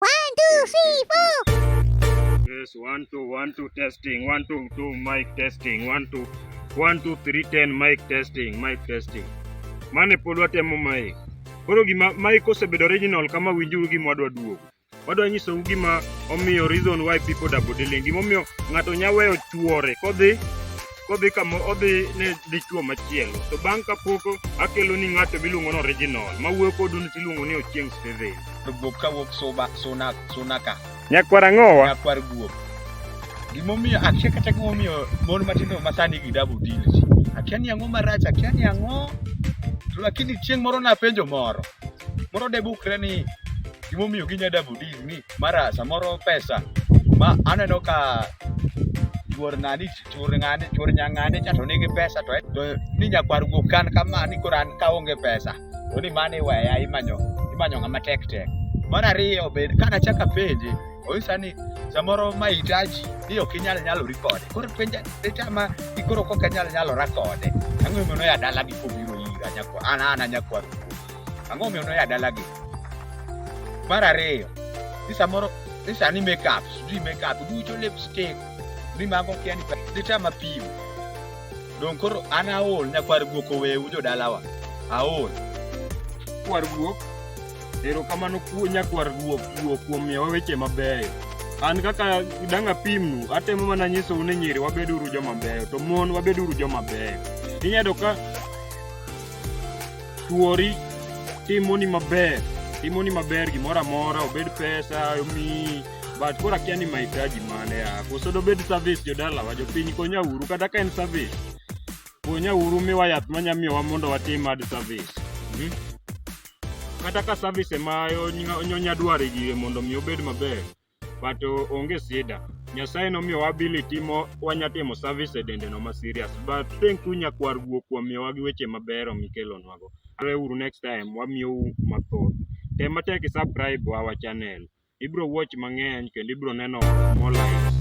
One, two, three, four. Yes, one, two, one, two, testing. One, two, two, mic testing. One, two, one, two, three, ten, mic testing, mic testing. Mane pod watemo mic. Koro gima mic osebedo original kama winjuru gima wadwa duogo. Wadwa nyisou gima omiyo reason why people double dealing. Gima omiyo ng'ato nya weyo chuore kodhi kodhi kama odhi ne dichuo machielo to bang' kapok akelo ni ng'ato miluongo ni original ma wuoyo kodu ni tiluongo ni Ochieng' Steven. To guok ka wuok suba suna suna ka. Nyakwar ang'owa. Nyakwar guok. Gimomiyo akia kata gimomiyo mon matindo masani gi double deals. Akia ni ang'o marach, akia ni ang'o. To lakini chieng' moro napenjo moro. Moro debukre ni gimomiyo ginya double deal ni mara samoro pesa ma aneno ka chuor ng'ani chuor ng'ani chuor nyang'ani cha to nigi pesa to to ni nyakwar go kan kama ni koran ka onge pesa to ni mane waya imanyo imanyo ng'ama tek tek mar ariyo be kana chaka penje onyisa ni samoro mahitaji ni ok inyal nyalori kode koro penja penja ma ikoro kok anyal nyalora kode ang'o mono ya dala gi kobiro ira nyakwar an an nyakwar ang'o mono ya dala gi mar ariyo ni samoro ni sani makeup sijui makeup ducho lipstick ni mago kia ni dita mapimo dong koro an aol nyakwar guok owewu jodalawa aol kwar guok erokamano kuo nyakwar guok guok kuom miyowa weche mabeyo an kaka dang' apimnu atemo mana nyisou ni nyiri wabeduru joma beyo to mon wabeduru joma beyo inyado ka Chwori timoni maber, timoni maber gimoro amora, obed pesa, omiyi but koro akia ni mahitaji mane ya koso dobed service jodalawa jopiny konyauru kata ka en service konyauru miwa yath manya miyowa mondo watim ad service hmm? kata ka service ema onya dwaro e gire mondo mi obed maber but uh, onge sida nyasaye nomiyowa ability mo wanyatimo service e dendeno ma serious but thank you nyakwar guo kuom miyowa gi weche mabero mikelonwago areuru next time wamiyou mathoth tem matek isubscribe our channel ibro watch mang'eny kendo ibro neno more likes